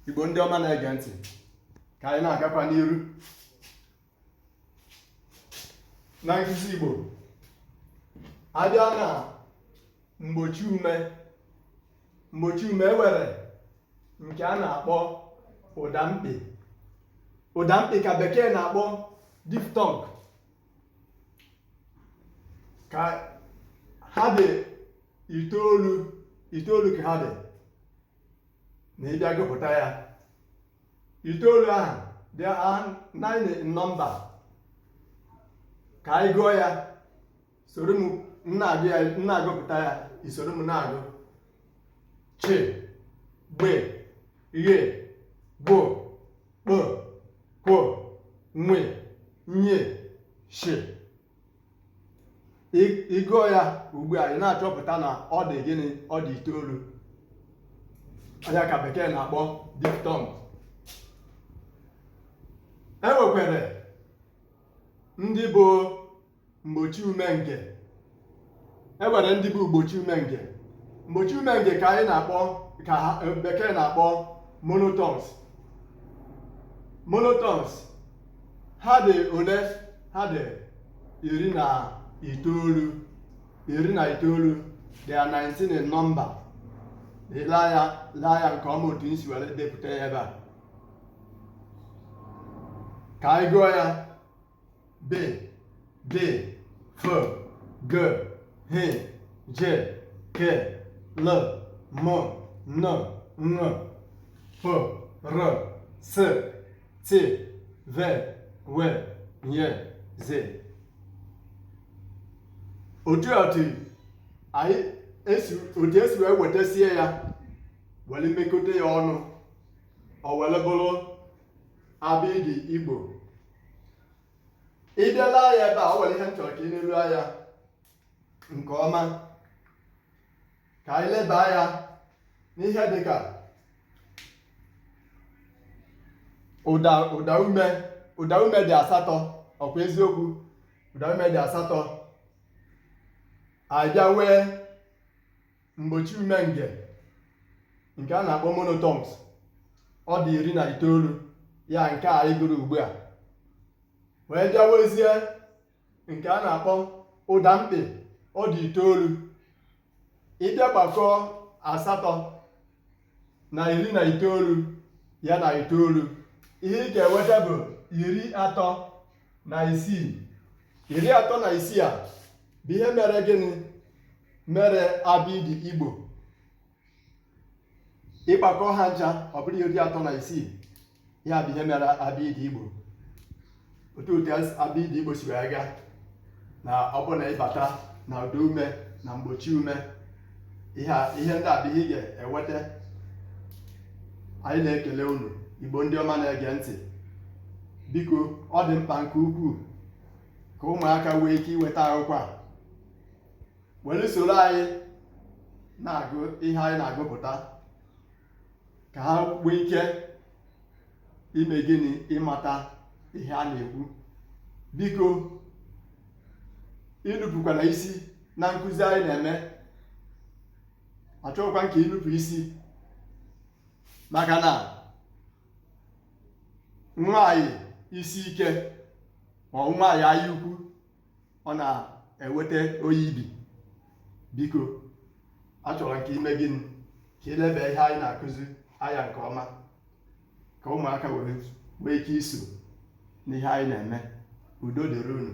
igbo ndị ọma na-ege ntị ka anyị na-agakwa n'iru na nkụzi igbo a bịa na mgbochi ume mgbochi ume e nwere nke a na-akpọ ụda mkpị ụda mkpị ka bekee na-akpọ diphthong ka ha dị itoolu itoolu ka ha dị na ị bịa gụpụta ya itoolu ahụ dị nine in number ka anyị gụọ ya soro m na-agụ ya na-agụpụta ya i soro m na-agụ chi gbe ghe gwo kpo kwo nwe nye shi ị gụọ ya ugbu a ị na-achọpụta na ọ dị gịnị ọ dị itoolu ya ka bekee na-akpọ diphthong e nwekwere ndị bụ mgbochi ume nge e nwere ndị bụ mgbochi ume nge mgbochi ume nge ka anyị na-akpọ ka eh, bekee na-akpọ monophthongs monophthongs ha dị ole ha dị iri na itoolu iri na itoolu they are 19 in number laa ya laa ya nke ọma otu m si were depụta ya ebe a ka anyị gụọ ya B, D, F, G, H, J, K, L, M, N, Ṅ, P, R, S, T, V, W, Y, Z. Otu otu anyị esi otu e si wee wetasie ya were mekọta ya ọnụ o were bụrụ Abịdịị Igbo ị bịa laa ya ebe a o nwere ihe m chọrọ ka i leruo anya nke ọma ka anyị leba anya n'ihe dị ka ụda ụda ume ụda ume dị asatọ ọ kwa eziokwu ụda ume dị asatọ a bịa wee mgbochi ume nge nke a na-akpọ monophthongs ọ dị iri na itoolu ya nke anyị gụrụ ugbu a wee bịa wezie nke a na-akpọ ụda mkpị ọ dị itoolu ị bịa gbakọọ asatọ na iri na itoolu ya na itoolu ihe ị ga-enweta bụ iri atọ na isii iri atọ na isii a bụ ihe mere gịnị mere abịdị igbo ị gbakọ ha ncha ọ bụrụ iri atọ na isii ihe a bụ ihe mere abịdị Igbo otu otu abịdị Igbo si wee gaa na ọ bụrụ na ị bata na ụda ume na mgbochi ume ihe ndị a bụ ihe ị ga-eweta anyị na-ekele unu Igbo ndị ọma na-ege ntị biko ọ dị mkpa nke ukwuu ka ụmụaka nwee ike iweta akwụkwọ a were soro anyị na-agụ ihe anyị na-agụpụta ka ha nwee ike ime gịnị ịmata ihe a na-ekwu biko inupụkwana isi na nkụzi anyị na-eme achọghịkwa nke inupụ isi maka na nwaanyị isi ike or nwaanyị anya ukwu ọ na-eweta oyi ibi biko a chọrọ nke ime gịnị ka i lebe ihe anyị na-akụzi anya nke ọma ka ụmụaka nwee ike iso n'ihe anyị na-eme udo dịrị unu